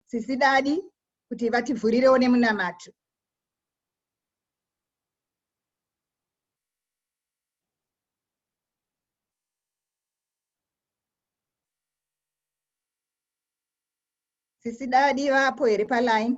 sisi dadi kuti vativhurirewo nemunamato sisi dadi vapo here paline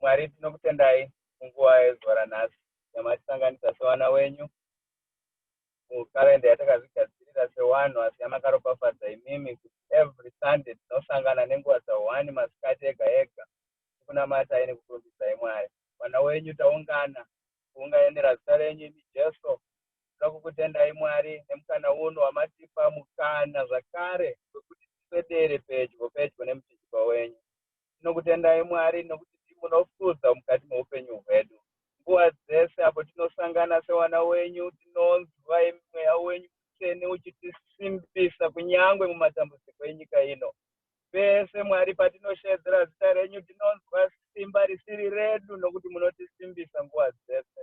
Mwari tinokutendai munguva yezuva ranhasi yamatisanganisa sevana wenyu mukarenda yatakazvigadzirira sewanhu asi yamakaropafadza imimi kuti every sunday tinosangana nenguva dzahwani masikati ega ega tikunamatai nekukurumbidzai mwari vana wenyu taungana kuunganira zita renyu imi jesu tinoda kukutendai mwari nemukana uno wamatipa mukana zvakare wekuti tiswedere pedyo pedyo nemuchinjikwa wenyu Tinokutendai Mwari nokuti ndimi munokudzwa mukati meupenyu hwedu. Nguva dzese apo tinosangana sevana wenyu tinonzwa imi mweya wenyu mutsvene uchitisimbisa kunyangwe mumatambudziko enyika ino. Pese Mwari patinosheedzera zita renyu tinonzwa simba risiri redu nokuti munotisimbisa nguva dzese.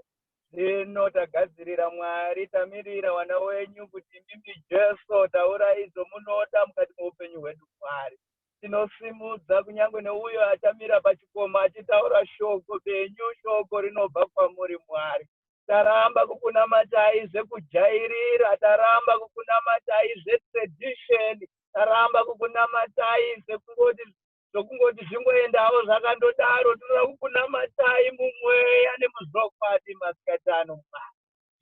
Zvino tagadzirira Mwari tamirira wana wenyu kuti ndimi Jesu taurai zvomunoda mukati meupenyu hwedu Mwari. tinosimudza kunyange neuyo achamira pachikomo achitaura shoko benyu shoko rinobva kwamuri mwari taramba kukunamatai zvekujairira taramba kukunamatai zvetradition taramba kukunamatai zvekungoti zvokungoti zvingoendawo zvakandodaro tinoda kukunamatai mumweya nemuzvokwadi masikatano mwari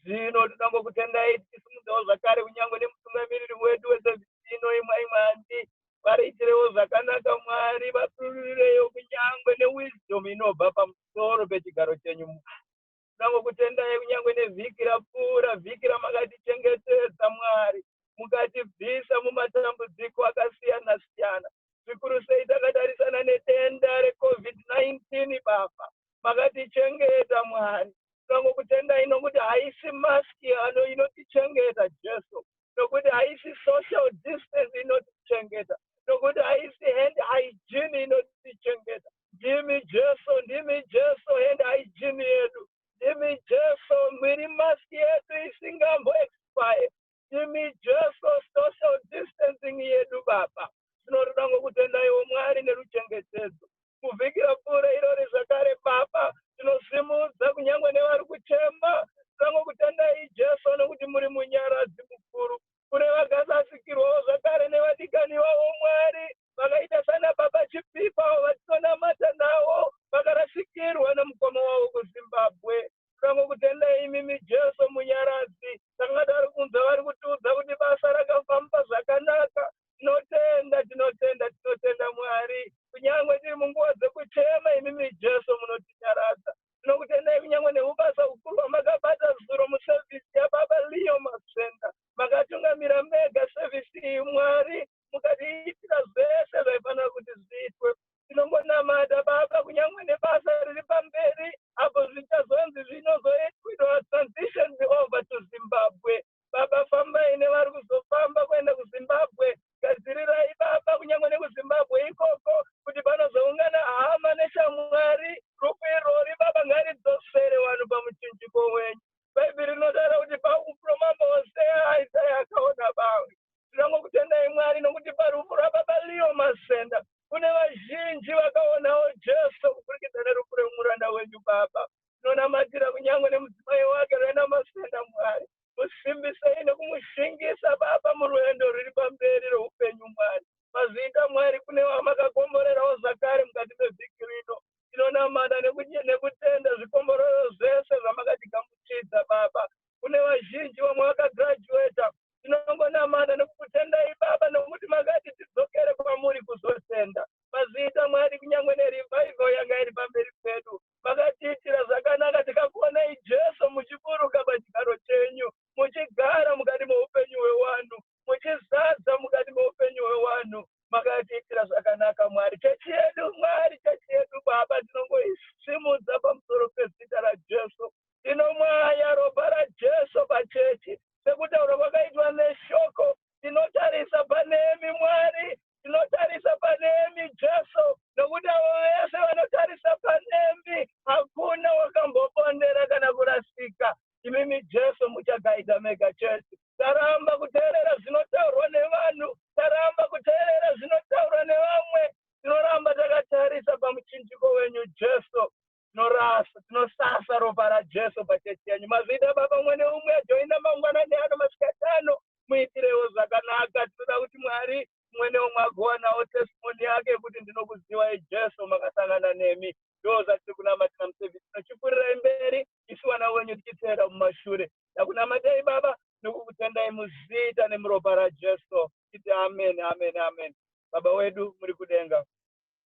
zvino tinoda kukutendai tichisimudzawo zvakare kunyange nemutungamiriri wedu wesevhisi ino imwai mwandi variitirewo zvakanaka mwari vapirurireyo kunyange newisdom inobva pamusoro pechigaro chenyu mwari tinangokutendai kunyange nevhiki rapfuura vhiki ramakatichengetedza mwari mukatibvisa mumatambudziko akasiyana siyana zvikuru sei takatarisana nedenda recovid-19 baba makatichengeta mwari tongokutendai nokuti haisi maski ano inotichengeta jesu nokuti haisi social distance inotichengeta nokuti haisi hand hygiene inotichengeta ndimi jesu ndimi jesu hand hygiene yedu ndimi jesu mwiri maski yedu isingambo expire imi jesu social distancing yedu baba tinotoda ngokutenda iwo mwari neruchengetedzo kuvhikira pfuure irori zvakare baba tinosimudza kunyange nevari kuchema tango kutendai jesu nokuti muri munyaradzi mukuru kune vakasasikirwawo zvakare nevadikani vavo mwari vakaita sana baba chipipa vatinonamata navo vakarasikirwa nemukoma wavo kuzimbabwe Tinongokutendai imimi Jesu Munyaradzi. Tanga tari kunzwa vari kutiudza kuti basa rakafamba zvakanaka. Tinotenda, tinotenda, tinotenda Mwari. Kunyangwe tiri munguva dzekuchema imimi Jesu munotinyaradza. Tinokutendai kunyangwe neubasa hukuru hwamakabata zuro musevhisi yaBaba Leo Masenda. Makatungamira mega sevhisi iyi Mwari mukatiitira zvese zvaifanira kuti zviitwe. tinongonamata baba kunyangwe nebasa riri pamberi apo zvichazonzi zvinozoitwa transition over to zimbabwe baba fambai nevari kuzofamba kuenda kuzimbabwe gadzirirai baba kunyangwe nekuzimbabwe ikoko kuti panozoungana hama neshamwari rufu irori baba ngaridzosere vanhu pamuchinjiko wenyu bhaibheri rinotaura kuti pakuproma mose aisai akaona bawe tinongokutendai mwari nokuti parufu rwababa leo masenda kune vazhinji vakaonawo jesu kupfurikidza nerufu remuranda wenyu baba tinonamatira kunyange nemudzimai wake rena masenda mwari musimbisei nekumushingisa baba murwendo rwuri pamberi rweupenyu mwari mazviita mwari kune vamakakomborerawo zvakare mukati mevhiki rino tinonamata nekutenda zvikomborero zvese zvamakatigamuchidza baba kune vazhinji vamwe vakagraduata tinongonamata nekukutendai baba nokuti makati tidzokere kwamuri kuzotenda mazviita mwari kunyange nerivaivo yanga iri pamberi pedu makatiitira zvakanaka tikakuonai jesu muchiburuka pachigaro chenyu muchigara mukati meupenyu hwewanhu muchizadza mukati meupenyu hwewanhu makatiitira zvakanaka mwari chechi yedu mwari chechi yedu baba tinongoisimudza pamusoro pezita rajesu tinomwaya ropa rajesu pachechi sekutaura kwakaitwa neshoko tinotarisa panemi mwari tinotarisa panemi jesu nokuti avo vese vanotarisa panemi hakuna wakambopondera kana kurasika imimi jesu muchagaidza mega chete taramba kuteerera zvinotaurwa nevanhu taramba kuteerera zvinotaurwa nevamwe tinoramba takatarisa pamuchinjiko wenyu jesu tinorasa tinosasa ropa rajesu pachechi yenyu mazvida baba mwene umwe ajoina mangwanani ano masikatano muitirewo zvakanaka tinoda kuti mwari mwene umwe agowanawo testimoni yake kuti ndinokuzivai jesu makasangana nemi ndo zvatiri kunamatira musevhisi tinochipfurirei mberi isu vana wenyu tichiteera mumashure takunamatei baba nokukutendai muzita nemuropa rajesu titi amen amen amen baba wedu muri kudenga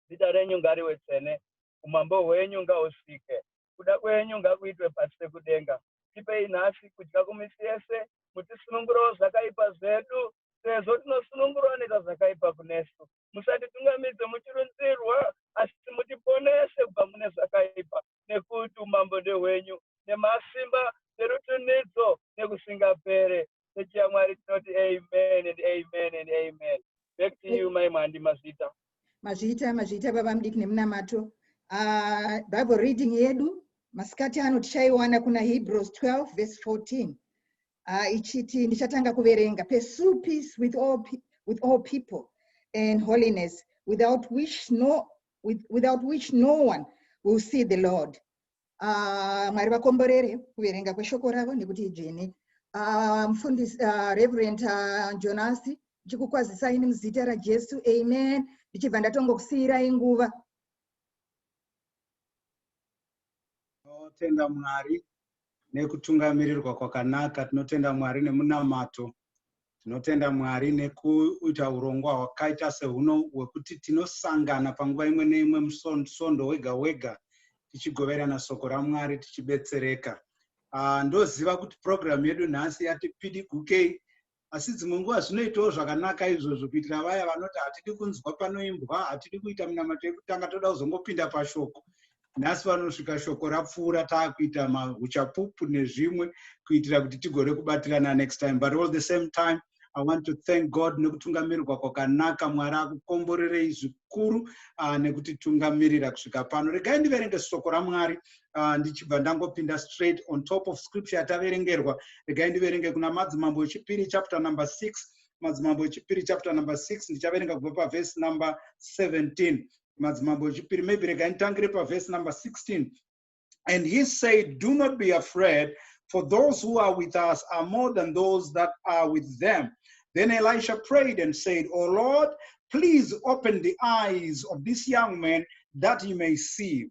zita renyu ngariwe tsvene umambo hwenyu ngausvike kuda kwenyu ngakuitwe pasi pekudenga tipei nhasi kudya kumisi yese mutisunungurawo zvakaipa zvedu sezvo tinosunungurwa neta zvakaipa kunesu musatitungamidze muchirunzirwa asi mutiponese kubva mune zvakaipa nekuti umambo ndehwenyu, nemasimba, nerutunhidzo, nekusingapere. Chechi yaMwari tinoti amen and amen and amen. Back to you, Mai Mwandi Mazvita. Mazvita, Mazvita, Baba Mdiki nemunamato. Uh, Bible reading yedu masikati ano tichaiwana kuna Hebrews 12 verse 14 uh, ichiti ndichatanga kuverenga pursue peace with all, with all people and holiness without which no with, without which no one will see the lord uh, mwari vakomborere kuverenga kweshoko ravo nekuti idzvene uh, mfundisi uh, reverend uh, jonasi ndichikukwazisai nemuzita rajesu amen ndichibva ndatongokusiyirai nguva Tinotenda Mwari nekutungamirirwa kwakanaka, tinotenda Mwari nemunamato, tinotenda Mwari nekuita urongwa hwakaita sehuno hwekuti tinosangana panguva imwe neimwe musondo wega wega tichigoverana soko raMwari tichibetsereka. Uh, ndoziva kuti program yedu nhasi yati pidiguke asi dzimwe nguva zvinoitawo zvakanaka izvozvo kuitira vaya vanoti hatidi kunzwa panoimbwa hatidi kuita munamato yekutanga toda kuzongopinda pashoko nhasi vanosvika shoko rapfuura taakuita mauchapupu nezvimwe kuitira kuti tigone kubatirana next time but all the same time i want to thank god nekutungamirirwa kwakanaka mwari akukomborerei zvikuru uh, nekutitungamirira kusvika pano regai ndiverenge soko ramwari uh, ndichibva ndangopinda straight on top of scripture yataverengerwa regai ndiverenge kuna madzimambo echipiri chapter number 6 madzimambo echipiri chapter number 6 ndichaverenga kubva pavhesi number 17 madzimambo echipiri maybe regai nditangire pavhesi number 16 and he said do not be afraid for those who are with us are more than those that are with them then elisha prayed and said o oh lord please open the eyes of this young man that he may see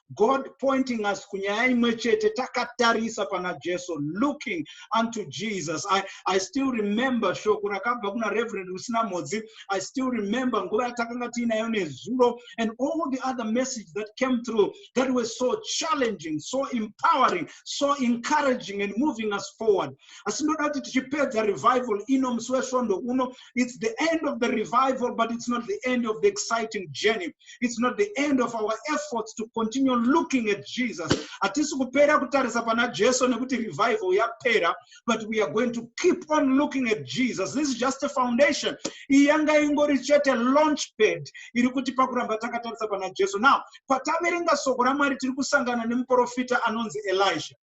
God pointing us kunyaya imwe chete takatarisa pana Jesu looking unto Jesus I, I still remember shoko rakabva kuna Reverend Rusina Modzi I still remember nguva yatakanga tiinayo nezuro and all the other message that came through that were so challenging so empowering so encouraging and moving us forward asi ndoda kuti tichipedza revival ino musi wesvondo uno It's the end of the revival, but it's not the end of the exciting journey. It's not the end of our efforts to continue looking at Jesus. Hatisi kupera kutarisa pana Jesu nekuti revival yapera, but we are going to keep on looking at Jesus. This is just a foundation. Iyi yanga ingori chete launch pad iri kuti pakuramba takatarisa pana Jesu. Now, pataverenga soko raMwari tiri kusangana nemuprofita anonzi Elijah.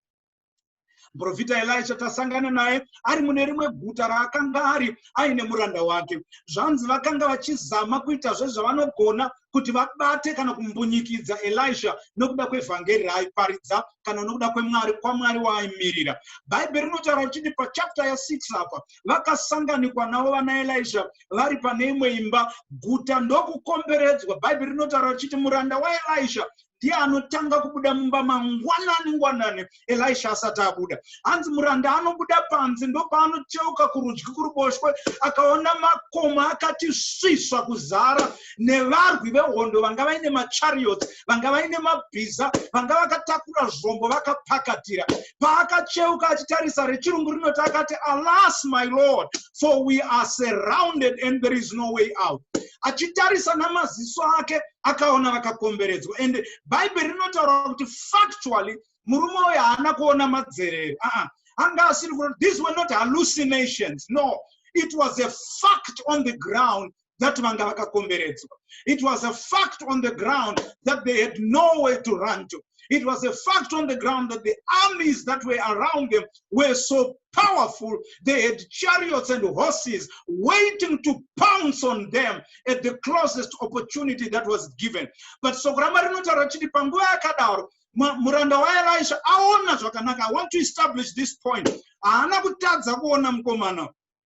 muprofita elisha tasangana naye ari mune rimwe guta raakanga ari aine muranda wake zvanzi vakanga vachizama kuita zvezvavanogona kuti vabate kana kumbunyikidza elisha nokuda kwevhangeri raaiparidza kana nokuda kwemwari kwamwari waaimirira bhaibheri rinotaura richiti pachapta ya6 apa vakasanganikwa navo vana elisha vari pane imwe imba guta ndokukomberedzwa bhaibheri rinotaura richiti muranda waelisha ndiye anotanga kubuda mumba mangwanani ngwanani elisha asati abuda hanzi muranda anobuda panze ndopaanocheuka kurudyi kuruboshwe akaona makoma akati svisva kuzara nevarwi vehondo vanga vaine machariots vanga vaine mabhiza vanga vakatakura zvombo vakapakatira paakacheuka achitarisa rechirungu rinoti akati alas my lord for we are surrounded and there is no way out achitarisa namaziso ake akaona vakakomberedzwa and bhaibheri rinotaura kuti factually murume uyo haana kuona madzerero aa ah, ah. anga asiri kuona these were not hallucinations no it was a fact on the ground that vanga vakakomberedzwa it was a fact on the ground that they had no way to run to it was a fact on the ground that the armies that were around them were so powerful, they had chariots and horses waiting to pounce on them at the closest opportunity that was given. But so Sokurama rinotaura chiti panguva yakadaro muranda waelisha aona zvakanaka i want to establish this point haana kutadza kuona mukomana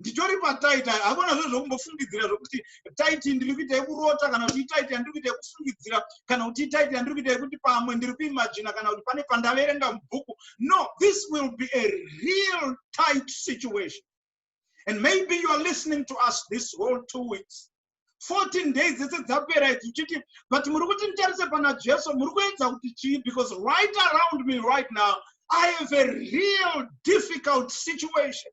nditori pataiti hakuna zvo zvokumbofungidzira zvokuti taiti ndiri kuita yekurota kana kuti itaiti yandiri kuita yekufungidzira kana kuti itaiti yandiri kuita yekuti pamwe ndiri kuimajina kana kuti pane pandaverenga mubhuku no this will be a real tight situation and maybe you are listening to us this whole two weeks 14 days dzese dzapera idzi uchiti but muri kuti nditarise pana jesu muri kuedza kuti chii because right around me right now i have a real difficult situation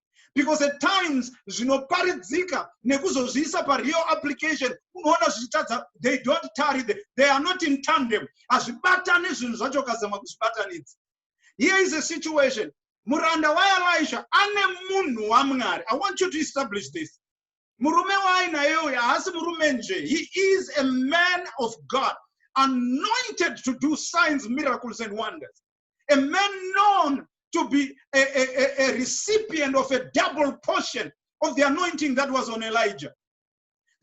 because at times zvinoparidzika nekuzozviisa pareal application unoona zvichitadza they don't tarry the, they are not in tandem hazvibatani zvinhu zvacho ukazama kuzvibatanidza here is a situation muranda waelisha ane munhu wamwari i want you to establish this murume waainaye uyu haasi murume nje he is a man of god anointed to do signs miracles and wonders a man known to be a, a, a, recipient of a double portion of the anointing that was on Elijah.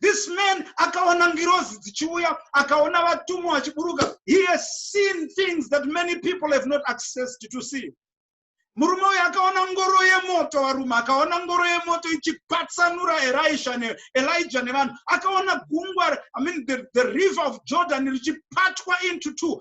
This man akaona ngirozi dzichiuya, akaona vatumwa vachiburuka. He has seen things that many people have not access to see. murume uyu akaona ngoro yemoto varume akaona ngoro yemoto ichipatsanura elisha neelija nevanhu akaona gungwa i mean the, the river of jordan richipatwa into two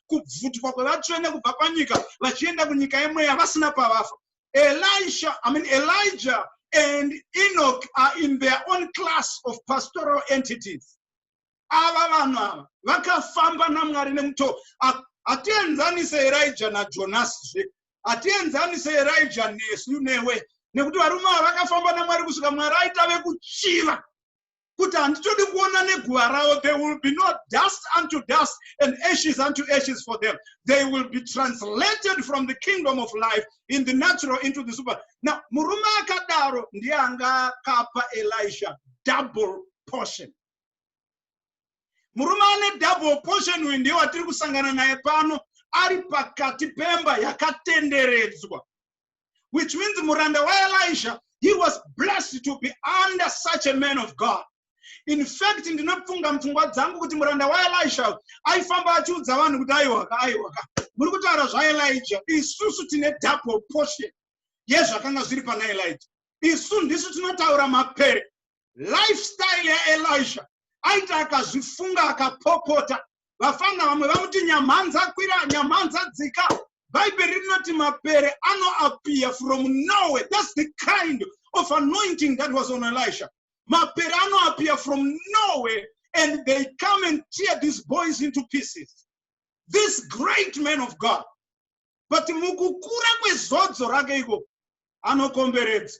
kubvutwa kwevatsvene kubva panyika vachienda kunyika yemweya vasina pavafa elisha i mean elijah and enoch are in their own class of pastoral entities ava vanhu ava vakafamba namwari nemutoo hatienzanise erija najonasi zve hatienzanise erija nesu newe nekuti varume ava vakafamba namwari kusvika mwari aita vekuchiva kuti handitodi kuona neguva ravo they will be no dust unto dust and ashes unto ashes for them they will be translated from the kingdom of life in the natural into the super now murume akadaro ndiye anga akapa elisha double portion murume ane double portion uyu ndiye watiri kusangana naye pano ari pakati pemba yakatenderedzwa which means muranda waelisha he was blessed to be under such a man of god in fact ndinopfunga mupfungwa dzangu kuti muranda waelisha aifamba achiudza vanhu kuti aiwaka aiwaka muri kutaura zvaelija isusu tine double portion yezvakanga zviri pana elija isu ndisu tinotaura mapere lifestyle yaelisha aita akazvifunga akapopota vafanha vamwe vamuti nyamhanza kwira nyamhanza dzika bhaibheri rinoti mapere anoapiya from norway thats the kind of anointing that was on elisha mapere anoapiya from norway and they come and tear these boys into pieces this great man of god but mukukura kwezodzo rake iko anokomberedza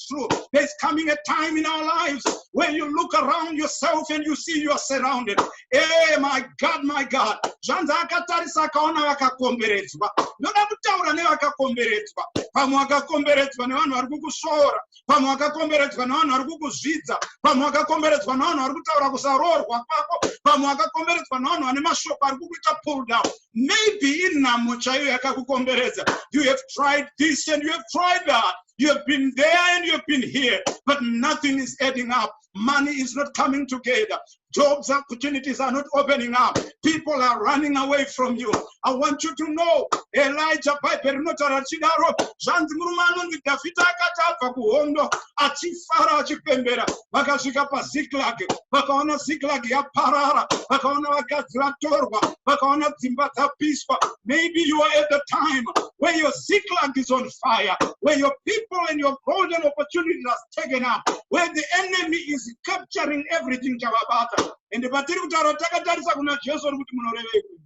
true. There's coming a time in our lives when you look around yourself and you see you are surrounded. Hey, eh, my God, my God. Zvanzi akatarisa akaona vakakomberedzwa. Ndoda kutaura nevakakomberedzwa. Pamwe wakakomberedzwa nevanhu vari kukushora. Pamwe wakakomberedzwa nevanhu vari kukuzvidza. Pamwe wakakomberedzwa nevanhu vari kutaura kusaroorwa kwako. Pamwe wakakomberedzwa nevanhu vane mashoko ari kukuita pull down. Maybe inhamo chaiyo yakakukomberedza. You have tried this and you have tried that. You have been there and you have been here, but nothing is adding up. Money is not coming together. Jobs opportunities are not opening up. People are running away from you. I want you to know, Elijah Piper rinotaura richidaro zvanzi murume anonzi Dhavhidha akati abva kuhondo achifara achipembera vakasvika paziklak vakaona ziklak yaparara vakaona vakadzi vatorwa vakaona dzimba dzapiswa maybe you are at the time where your ziklak is on fire where your people and your golden opportunity has taken up where the enemy is capturing everything chavabata ende patiri kutaura takatarisa kuna jesu ri kuti munorevei kuni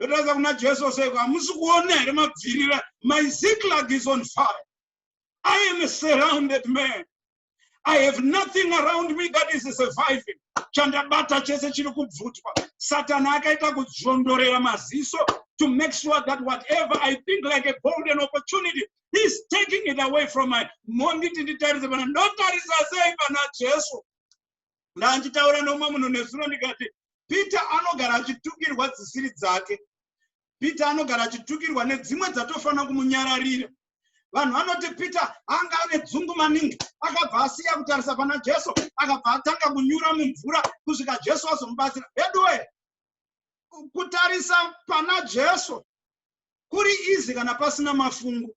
ndotaridza kuna jesu seko hamusi kuona here mabvirira my ziklag is on fire I am a surrounded man. I have nothing around me that is surviving. Chandabata chese chiri kubvutwa. Satan akaita kudzvondorera maziso to make sure that whatever I think like a golden opportunity, he's taking it away from my monditi nditarise pana ndotarisa sei pana Jesu. Ndanjitaura nomwe munhu nezuro ndikati Peter anogara achitukirwa dzisiri dzake. peter anogara achitukirwa nedzimwe dzatofanira kumunyararira vanhu vanoti peter anga ane dzungu maningi akabva asiya kutarisa pana jesu akabva atanga kunyura mumvura kusvika jesu azomubatsira veduwe kutarisa pana jesu kuri izi kana pasina mafungu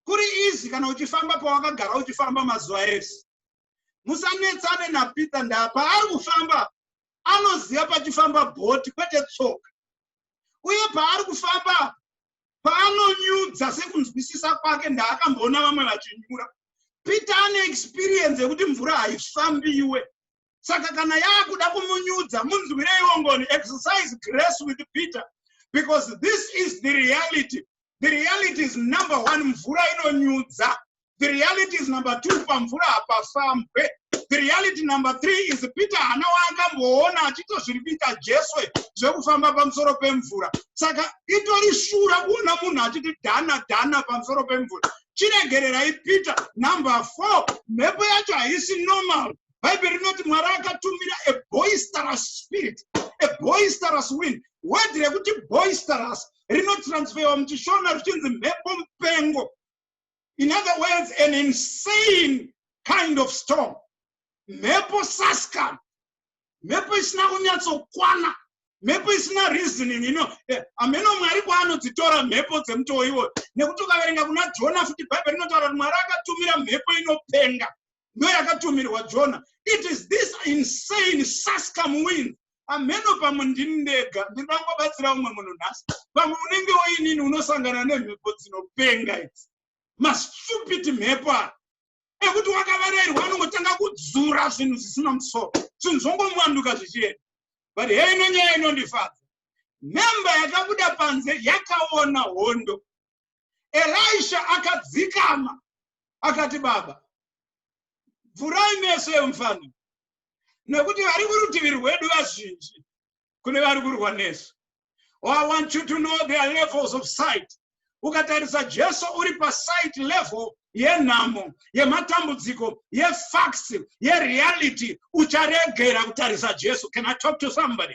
kuri izi kana uchifamba pawakagara uchifamba mazuva ese musanetsane napeter ndapa ari kufamba anoziva pachifamba bhoti kwete tsoka uye paari kufamba paanonyudza sekunzwisisa kwake ndaakamboona vamwe vachinyura peter ane experience yekuti mvura haifambiwe saka kana yaakuda kumunyudza munzwireiwo ngoni exercise grace with peter because this is the reality the reality is number one mvura inonyudza the reality is number two pamvura hapafambwe the reality number three is peter hana waakamboona achitozviripita jeswe zvekufamba pamusoro pemvura saka itori shura kuona munhu achiti dhana dhana pamusoro pemvura chiregererai peter number four mhepo yacho haisi normal bhaibheri rinoti mwari akatumira a boisterous spirit a boisterous wind word rekuti boisterous rinotransferwa muchishona richinzi mhepo mupengo in other words an insane kind of storm mhepo sascam mhepo isina kunyatsokwana mhepo isina reasoning ino eh, ameno mwari kwaanodzitora mhepo dzemutoo iwoyo nekuti ukaverenga kuna jona futi bhaibheri rinotaura kuti mwari akatumira mhepo inopenga ndo yakatumirwa jona it is this insane sascam wind amheno pamwe ndini ndega ndinoda kungobatsira umwe munhu nhasi pamwe unenge woinini unosangana nemhepo dzinopenga idzi mastupid mhepo aya ekuti wakavarairwa anongotanga kudzura zvinhu zvisina musoro zvinhu zvongomuwanduka zvichienda but heino nyaya inondifadza memba yakabuda panze yakaona hondo elisha akadzikama akati baba vhurai meso yemufana nekuti vari kurutivi rwedu vazhinji kune vari kurwa nesu or oh, i want you to know their levels of sight ukatarisa jesu uri pasight level yenhamo yematambudziko yefacts yereality ucharegera kutarisa jesu can i talk to somebody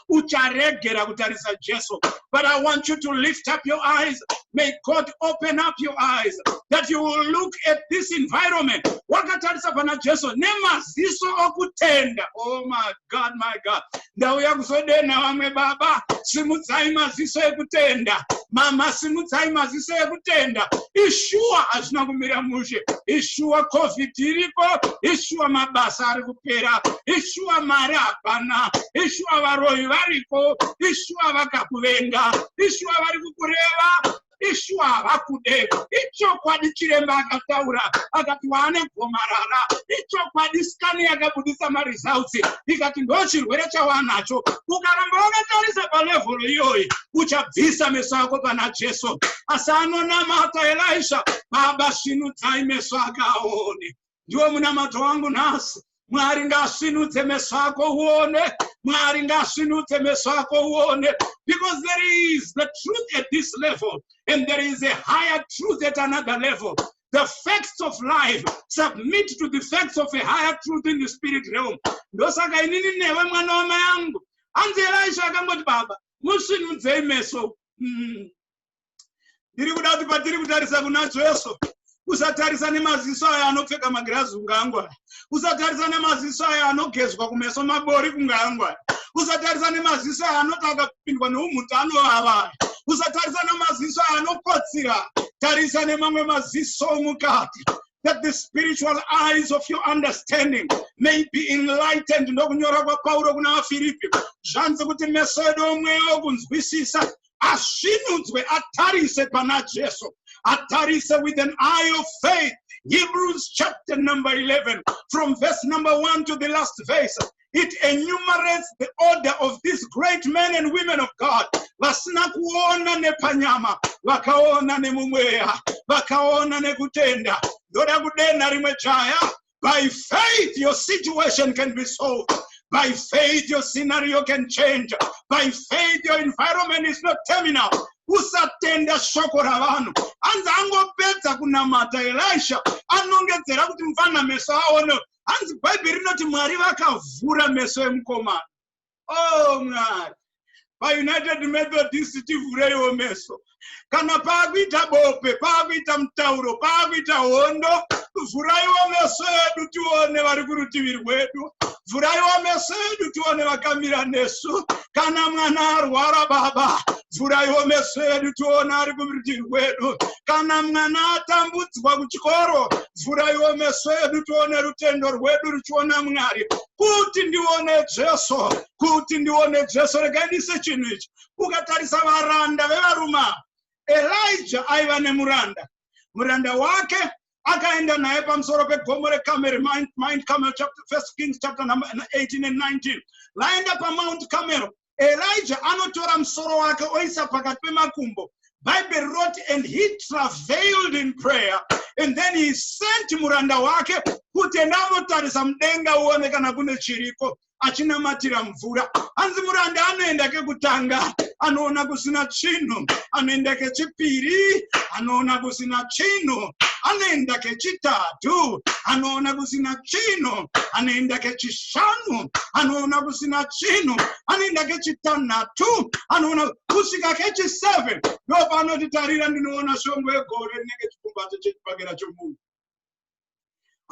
ucharegera kutarisa jesu but i want you to lift up your eyes may god open up your eyes that you will look at this environment wakatarisa pana jesu nemaziso okutenda oh my god my god ndauya kuzodenha vamwe baba simudzai maziso ekutenda mama simudzai maziso ekutenda ishuwa hazvina kumira mushe ishuwa covid iriko ishuwa mabasa ari kupera ishuwa mari hapana ishuwa varoyi variko ishuwa vakakuvenga ishuwa vari kukureva ishuwa havakude ichokwadi chiremba akataura akati waane gomarara ichokwadi skani yakabudisa maresults ikati ndo chirwere chawanacho ukaramba wakatarisa palevhel iyoyi uchabvisa meso ako pana jesu asi anonamata elisha baba svinudzai meso akaone ndiwo munamato wangu nhasi mwari ngaasvinudze meso ako uone mwari ngaasvinudze meso ako uone because there is the truth at this level and there is a higher truth at another level the facts of life submit to the facts of a higher truth in the spirit realm ndosaka inini newe mwana wama yangu hanzi elisha akangoti baba musvinudzei meso mm. ndiri kuda kuti patiri kutarisa kuna jesu usatarisa nemaziso ayo anopfeka magirazi ungangwa usatarisa nemaziso ayo anogezwa kumeso mabori kungangwa usatarisa nemaziso ayo anoti akapindwa neumhuti anovava usatarisa nemaziso ayo anokotsira tarisa nemamwe maziso omukati that the spiritual eyes of your understanding may be enlightened ndokunyora kwapauro kuna vafiripi zvanzi kuti meso edu omweya okunzwisisa asvinudzwe atarise pana Jesu atarise with an eye of faith Hebrews chapter number 11 from verse number 1 to the last verse it enumerates the order of these great men and women of God vasina kuona nepanyama vakaona nemumweya vakaona nekutenda ndoda kudenha rimwe jaya By faith, your situation can be solved. By faith, your scenario can change. By faith, your environment is not terminal. usatenda shoko ravanhu hanzi angopedza kunamata elisha anongedzera kuti mfana meso aone hanzi bhaibheri rinoti mwari vakavhura meso emukomana oh mwari paunited methodist tivhureiwo meso kana paakuita bope paakuita mutauro paakuita hondo vhuraiwo meso edu tione vari kurutivi rwedu vhuraiwo meso edu tione vakamira nesu kana mwana arwara baba vhuraiwo meso edu tione ari kurutivi rwedu kana mwana atambudzwa kuchikoro vhuraiwo meso edu tione rutendo rwedu ruchiona mwari kuti ndione jesu kuti ndione jesu regai ndiise chinhu ichi ukatarisa varanda vevaruma elija aiva nemuranda muranda wake akaenda naye pamusoro pegomo rekameri mind camel chapter, first kings chapter number 18 and 19 vaenda pamount camero Elijah anotora musoro wake oisa pakati pemakumbo. Bible wrote, and he travailed in prayer, and then he sent muranda wake kuti enda anotarisa mudenga uone kana kune chiriko achinamatira mvura hanzi muranda anoenda kekutanga anoona kusina chinhu anoenda kechipiri anoona kusina chinhu anoenda kechitatu anoona kusina chinhu anoenda kechis kechishanu anoona kusina chinhu anoenda kechitanhatu anoona kusvika kechiseven ndo paanoti tarira ndinoona shongo yegore rinenge chikumbato chechipakera chomunhu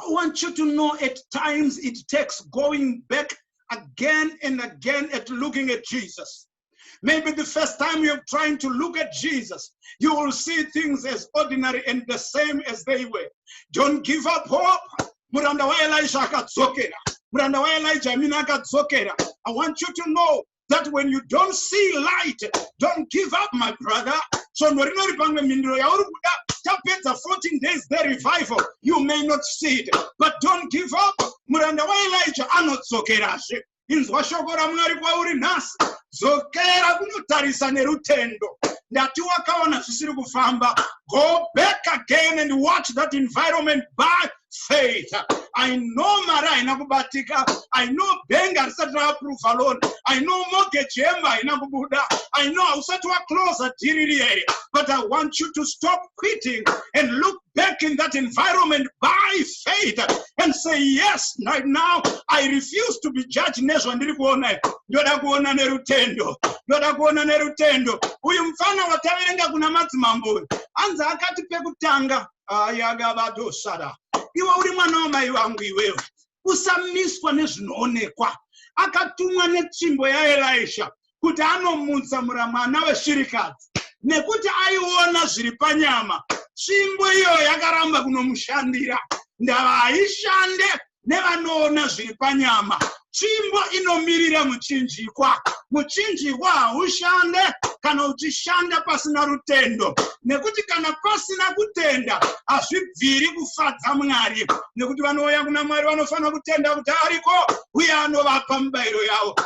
I want you to know at times it takes going back again and again at looking at Jesus. Maybe the first time you're trying to look at Jesus, you will see things as ordinary and the same as they were. Don't give up hope. Muranda wa Elijah akadzokera. Muranda wa Elijah mina akadzokera. I want you to know that when you don't see light, don't give up, my brother. So norinori pamwe mindiro yauri kuda tapedza 14 days the revival you may not see it but don't give up muranda waelijah anodzokerazve inzwa shoko ramwari kwauri nhasi dzokera kunotarisa nerutendo ndati wakaona zvisiri kufamba go back again and watch that environment by faith i know mari haina kubatika i know benga risati raaprova loan i know mortgage yemba haina kubuda i know hausati waclosa dhiri riyeye but i want you to stop quitting and look back in that environment by faith and say yes right now i refuse to be judged nezvandiri kuona ndoda kuona nerutendo ndoda kuona nerutendo uyu mfana wataverenga kuna madzimambo uyu hanzi akati pekutanga ayagavadosara iwe uri mwana wamai vangu iwewe usamiswa nezvinoonekwa akatumwa netsvimbo yaelisha kuti anomutsa muramwana weshirikadzi nekuti aiona zviri panyama tsvimbo iyo yakaramba kunomushandira ndava haishande nevanoona zviri panyama tsvimbo inomirira muchinjikwa muchinjikwa haushande kana uchishanda pasina rutendo nekuti kana pasina kutenda hazvibviri kufadza mwari nekuti vanouya kuna mwari vanofanira kutenda kuti ariko uye anovapa mubayiro yavo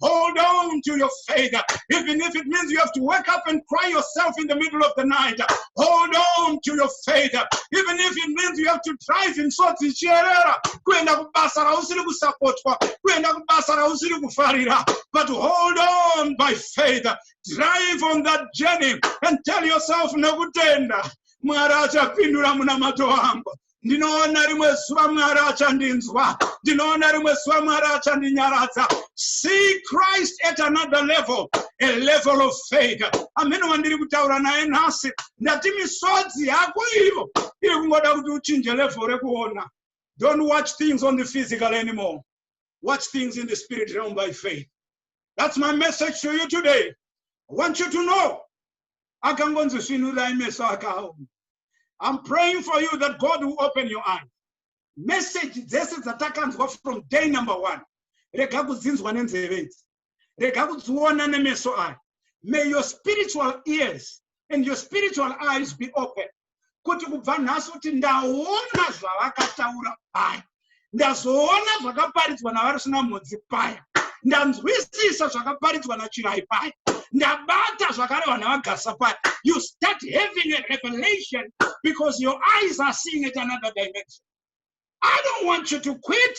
Hold on to your faith. Even if it means you have to wake up and cry yourself in the middle of the night. Hold on to your faith. Even if it means you have to drive in sorts of chierera. Kuenda kubasa rausiri kusapotwa. Kuenda kubasa rausiri kufarira. But hold on by faith. Drive on that journey and tell yourself nekutenda. Mwari achapindura munamato wangu. ndinoona rimwe zuva mwari achandinzwa ndinoona rimwe zuva mwari achandinyaradza see christ at another level a level of faith amene wandiri kutaura naye nhasi ndati misodzi yako iyo iri kungoda kuti uchinje level rekuona don't watch things on the physical anymore watch things in the spirit realm by faith that's my message to you today i want you to know akangonzi svinurai meso akaoma I'm praying for you that God will open your eyes. Message dzese dzatakanzwa from day number one. Rega kudzinzwa nenzeve idzi. Rega kudziona nemeso aya. May your spiritual ears and your spiritual eyes be open. kuti kubva nhasi kuti ndaona zvavakataura paya ndazoona zvakaparidzwa navarusina mhodzi paya ndanzwisisa zvakaparidzwa nachirai paya ndabata zvakarehwa navagasa paya you start having a revelation because your eyes are seeing it another dimension i don't want you to quit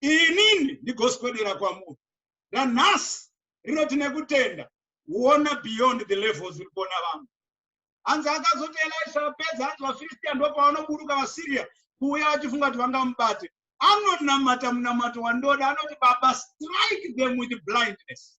inini ndigoswedera kwamuri ranhasi rinoti nekutenda kuona beyond the levels uri kuona vamwe hanzi akazoti elisha apedza hanzi vafiristiya ndopavanoburuka vasiria kuuya vachifunga kuti vangamubate anonamata munamato wandoda anoti baba strike them with blindness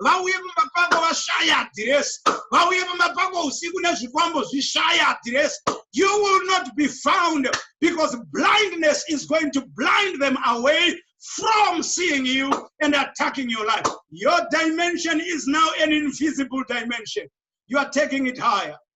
vauye pamapango vashaya adiresi vauye pamapango usiku nezvikwambo zvishaya adiresi you will not be found because blindness is going to blind them away from seeing you and attacking your life your dimension is now an invisible dimension you are taking it higher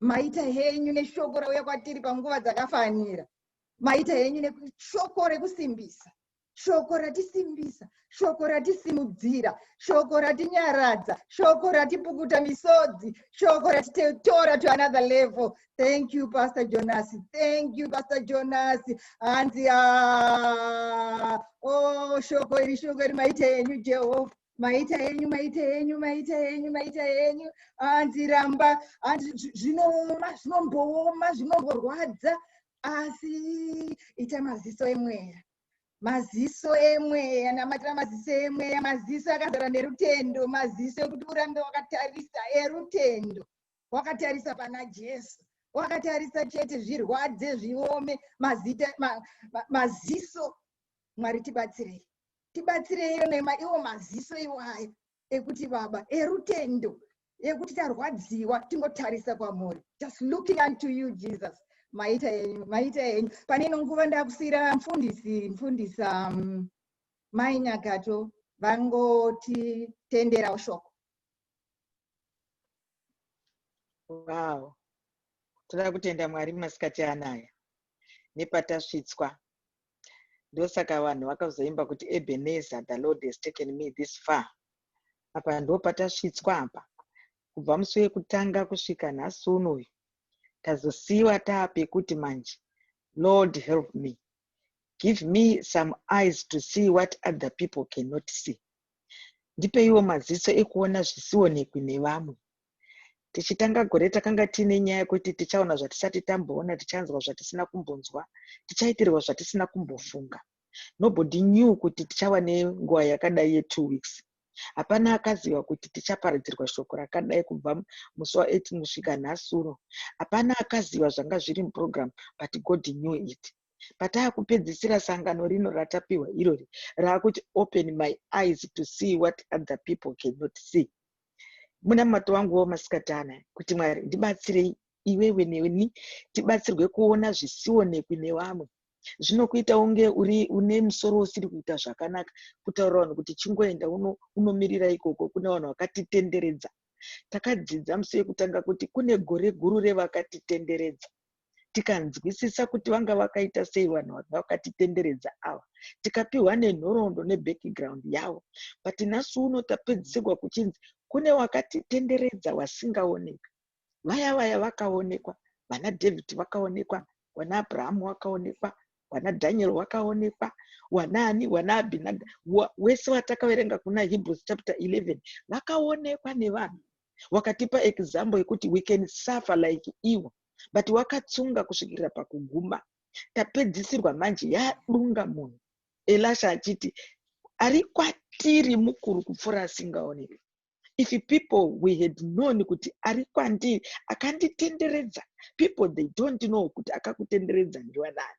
maita henyu neshoko rauya kwatiri panguva dzakafanira maita henyu neshoko rekusimbisa shoko ratisimbisa shoko ratisimudzira shoko ratinyaradza shoko ratipukuta misodzi shoko ratitetora to another level thank you pastor jonas thank you pastor jonas hanzi o oh, shoko iri shoko iri maita henyu jehovha maita yenyu maita yenyu maita yenyu maita yenyu hanzi ramba hanzi zvinooma zvinombooma zvinomborwadza asi ita maziso emweya maziso emweya namatira maziso emweya maziso akazara nerutendo maziso ekuti urambe wakatarisa erutendo wakatarisa pana jesu wakatarisa chete zvirwadze zviome mazita ma, ma, maziso mwari tibatsirei tibatsireiwo nema iwo maziso iwaya ekuti baba erutendo ekuti tarwadziwa tingotarisa kwamuri just looking unto you jesus maita henyu maita henyu pane ino nguva ndakusiyira mfundisi mfundisi um, mai nyakato vangotitenderawo shoko wow toda kutenda mwari masikati anaya nepatasvitswa ndosaka vanhu vakazoimba kuti ebeneza the lord has taken me this far apa ndo patasvitswa apa kubva musi wekutanga kusvika nhasi uno uyu tazosiyiwa taapekuti manje lord help me give me some eyes to see what other people cannot see ndipeiwo maziso ekuona zvisionekwi nevamwe Tichitanga gore takanga tiine nyaya yekuti tichaona zvatisati tamboona, tichanzwa zvatisina kumbonzwa, tichaitirwa zvatisina kumbofunga. Nobody knew kuti tichava nenguva yakadai ye two weeks. Hapana akaziva kuti tichaparidzirwa shoko rakadai kubva musi wa 18 kusvika nhasuro. Hapana akaziva zvanga zviri muprogram but God knew it. Patava kupedzisira sangano rino ratapiwa irori rava kuti open my eyes to see what other people cannot see. munamato wangu wamasikatana kuti mwari ndibatsirei iwewe neni tibatsirwe kuona zvisionekwi nevamwe zvinokuita unge uri une musoro usiri kuita zvakanaka kutaura vanhu kuti chingoenda unomirira ikoko kune vanhu vakatitenderedza takadzidza musi wekutanga kuti kune gore guru revakatitenderedza tikanzwisisa kuti vanga vakaita sei vanhu vanga vakatitenderedza ava tikapiwa nenhoroondo nebackground yavo but nhasi uno tapedzisirwa kuchinzi kune wakatitenderedza wasingaoneka vaya vaya vakaonekwa vana david vakaonekwa wana abrahamu wakaonekwa wana daniel wakaonekwa wanaani wana abhinada wese watakaverenga kuna hebrews chapter 11 vakaonekwa nevanhu Wakatipa example yekuti we can suffer like iwo but wakatsunga kusvikira pakuguma. Tapedzisirwa manje yadunga munhu. Elasha achiti ari kwatiri mukuru kupfuura asingaoneki. If people we had known kuti ari kwandiri akanditenderedza. People they don't know kuti akakutenderedza ndiwa nani.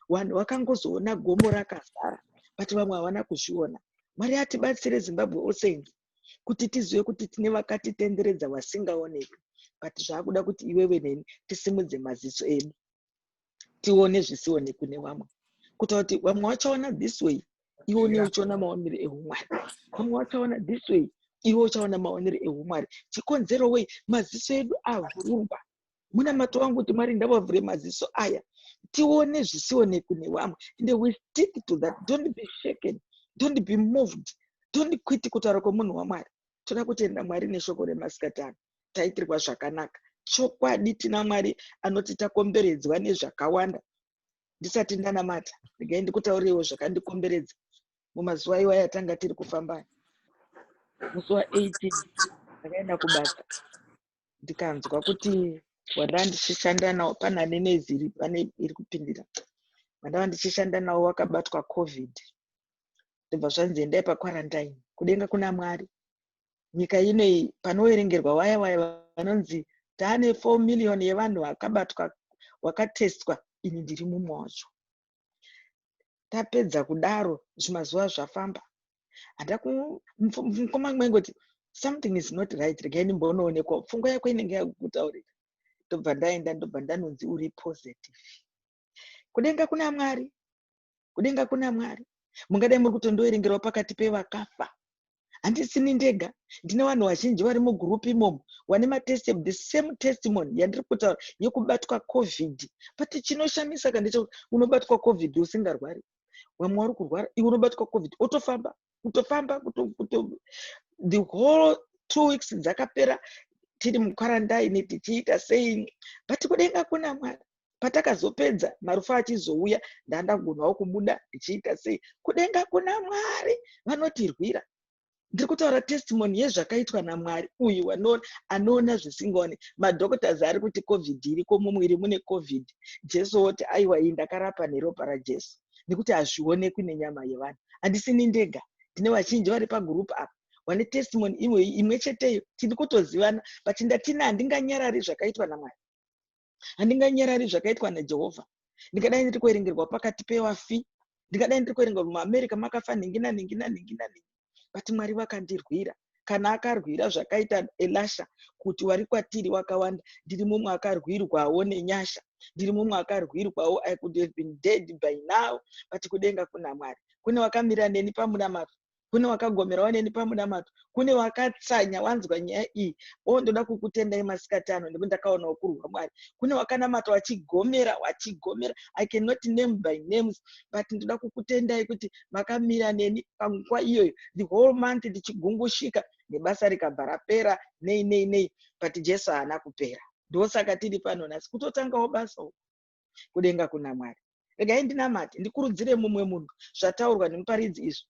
Wanhu wakangozoona gomo rakazara but vamwe havana kuzviona. Mwari atibatsire Zimbabwe All Saints. kuti tizive kuti tine vakatitenderedza vasingaonekwi but zvakuda kuti iwewe neni tisimudze maziso edu tione zvisionekwi nevamwe kuita kuti vamwe vachaona this way iwe une uchiona maonero ehumwari vamwe vachaona this way iwe uchaona maonero ehumwari chikonzero wei maziso edu avhurwa munamato wangu kuti mwari ndavavhure maziso aya tione zvisionekwi nevamwe and we stick to that don't be shaken don't be moved don't quit kutaura kwemunhu wamwari toda kutenda mwari neshoko remasikatano taitirwa zvakanaka chokwadi tina mwari anoti takomberedzwa nezvakawanda ndisati ndanamata regai ndikutaurirewo zvakandikomberedza mumazuva iwaya tanga tiri kufamba musi wa 18 ndakaenda kubasa ndikanzwa kuti wandava ndichishanda nawo pana nene ziri pane iri kupindira vandava ndichishanda nawo wakabatwa covid ndobva zvanzi endai pakwarantine kudenga kuna mwari nyika inoyi panoverengerwa waya waya vanonzi taane four million yevanhu vakabatwa wakatestwa ini ndiri mumwe wacho tapedza kudaro zvimazuva zvafamba hata mukoma maingoti something is not right regai ndimbonoonekwa pfungwa yako inenge yakutaurira ndobva ndaenda ndobva ndanonzi uri positive kudenga kuna mwari kudenga kuna mwari mungadai muri kutondoerengerwa pakati pevakafa handisini ndega ndine vanhu vazhinji vari mugroup imomo vane matestimony the same testimony yandiri kutaura yekubatwa covid but chinoshamisa ka ndechekuti unobatwa covid usingarwari vamwe vari kurwara iwe unobatwa covid otofamba kutofamba the whole two weeks dzakapera tiri mukwarandaini tichiita sei but kudenga kuna mwari patakazopedza marufa achizouya ndandagonawo kubuda ndichiita sei kudenga kuna mwari vanotirwira ndiri kutaura testimony yezvakaitwa namwari uyu wanoona anoona zvisingaone madoctors ari kuti covid iriko mumwiri mune covid jesu woti aiwa iyi ndakarapa neropa rajesu nekuti hazvionekwi nenyama yevanhu handisini ndega tine vazhinji vari pagurupu apa vane testimony imwe imwe cheteyo tiri kutozivana but ndatini handinganyarari zvakaitwa namwari handinganyarari zvakaitwa najehovha ndingadai ndiri kuerengerwa pakati pevafi ndingadai ndiri kuerengerwa muamerica makafa nhingi nanhingi nanhingi nanhingi but mwari vakandirwira kana akarwira zvakaita elasha kuti wari kwatiri wakawanda ndiri mumwe akarwirwawo nenyasha ndiri mumwe akarwirwawo i could have been dead by now but kudenga kuna mwari kune wakamira neni pamunamato kune wakagomerawo neni pamunamato kune wakatsanya wanzwa nyaya iyi o oh, ndoda kukutendai masikati ano nekuti ndakaona ukurwa mwari kune wakanamata wachigomera wachigomera i cannot name by names but ndoda kukutendai kuti makamira neni panguva iyoyo the whole month ndichigungushika nebasa rikabva rapera nei nei nei but jesu haana kupera ndosaka tiri pano nhasi kutotangawo basa uku kudenga kuna mwari regai ndinamate ndikurudzire mumwe munhu zvataurwa nemuparidzi izvi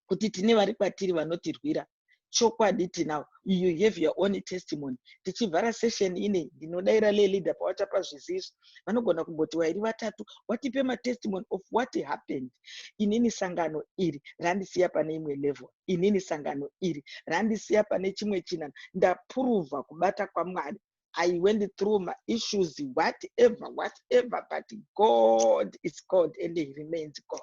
kuti tine vari kwatiri vanotirwira chokwadi tinawo you have your own testimony tichivhara session ine ndinodaira leleader pawatapa zviziso vanogona kumboti wairi vatatu watipe matestimony of what happened inini sangano iri randisiya pane imwe level inini sangano iri randisiya pane chimwe chinano ndapuruvha kubata kwamwari I went through my issues, whatever, whatever, but God is God and He remains God.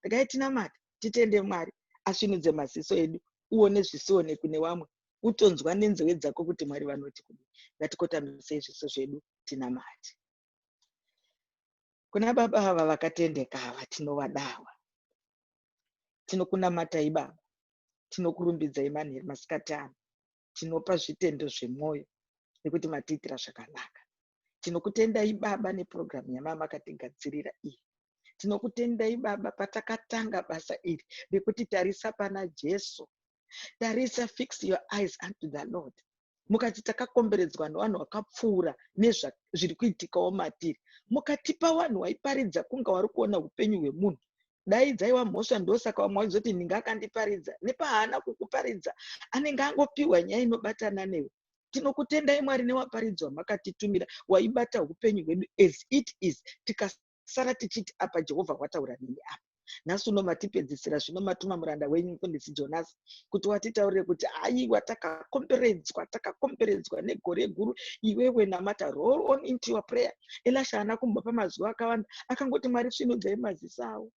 Regai tinamata, titende Mwari, asvinudze maziso edu, uone zvisionekwi nevamwe, utonzwa nenzeve dzako kuti Mwari vanoti kudii. Ngatikotamisa zviso zvedu tinamate. Kuna baba ava vakatendeka ava tinovadawa. Tinokunamatai baba, tinokurumbidzai manheru masikati ano. tinopa zvitendo zvemwoyo nekuti matiitira zvakanaka tinokutendai baba nepurogiramu yamamakatigadzirira iyi tinokutendai baba patakatanga basa iri rekuti tarisa pana jesu tarisa fix your eyes unto the lord mukati takakomberedzwa nevanhu vakapfuura nezviri kuitikawo matiri mukatipa vanhu waiparidza kunge wari kuona upenyu hwemunhu dai dzaiva mhosva ndosaka vamwe vachizoti nhingi akandiparidza nepahaana kukuparidza anenge angopiwa nyaya inobatana newe tinokutendai mwari newaparidzwa makatitumira waibata upenyu hwedu as it is tikasara tichiti apa jehovha wataura neni apa nhasi uno matipedzisira zvino matuma muranda wenyu mfundisi jonasi kuti watitaurire kuti aiwa takakomberedzwa takakomberedzwa negore guru iwewe namata roll on into your prayer elasha haana kumbopa mazuva akawanda akangoti mwari svinudzai maziso avo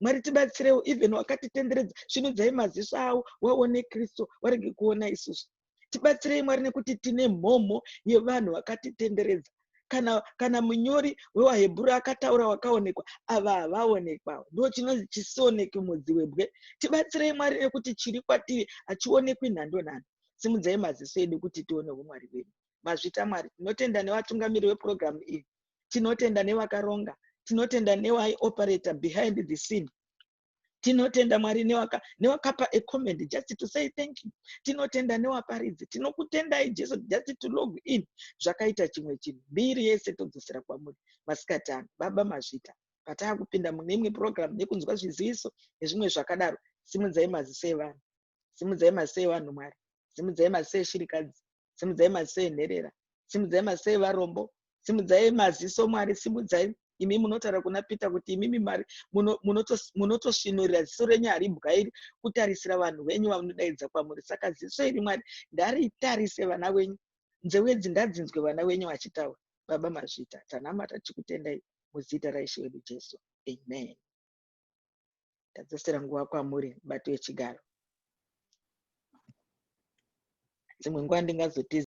mwari tibatsirewo even wakatitenderedza svinudzai maziso avo waone kristu warege kuona isusu tibatsirei mwari nekuti tine mhomho yevanhu vakatitenderedza kana kana munyori wewahebhuru akataura wakaonekwa ava havaonekwawo ndo chinonzi chisioneki mudzi webwe tibatsirei mwari nekuti chiri kwatiri hachionekwi nhando nhando simudzai maziso edu kuti tione humwari hwedu mazvita mwari tinotenda nevatungamiri wepurogiramu iyi tinotenda nevakaronga tinotenda newaioperata behind the scene tinotenda mwari newaka newakapa a comment just to say thank you tinotenda newaparidzi tinokutendai jesu just to log in zvakaita chimwe chinhu mbiri yese todzosera kwamuri masikati ano baba mazvita pataakupinda mune imwe program nekunzwa zviziviso nezvimwe zvakadaro simudzai maziso evanhu simudzai maziso evanhu mwari simudzai maziso eshirikadzi simudzai maziso enherera simudzai maziso evarombo simudzai maziso mwari simudzai imi munotaura kuna peter kuti imimi mari munotosvinurira munoto ziso renyu haribwa iri kutarisira vanhu venyu vanodaidza kwamuri saka ziso iri mwari ndaritarise vana venyu nzeu edzi ngadzinzwe vana venyu vachitaura baba mazvita tanamata tichikutendai muzita raishe wedu jesu amen Ndadzosera nguva kwamuri mubato wechigaro. Dzimwe nguva ndingazotiza.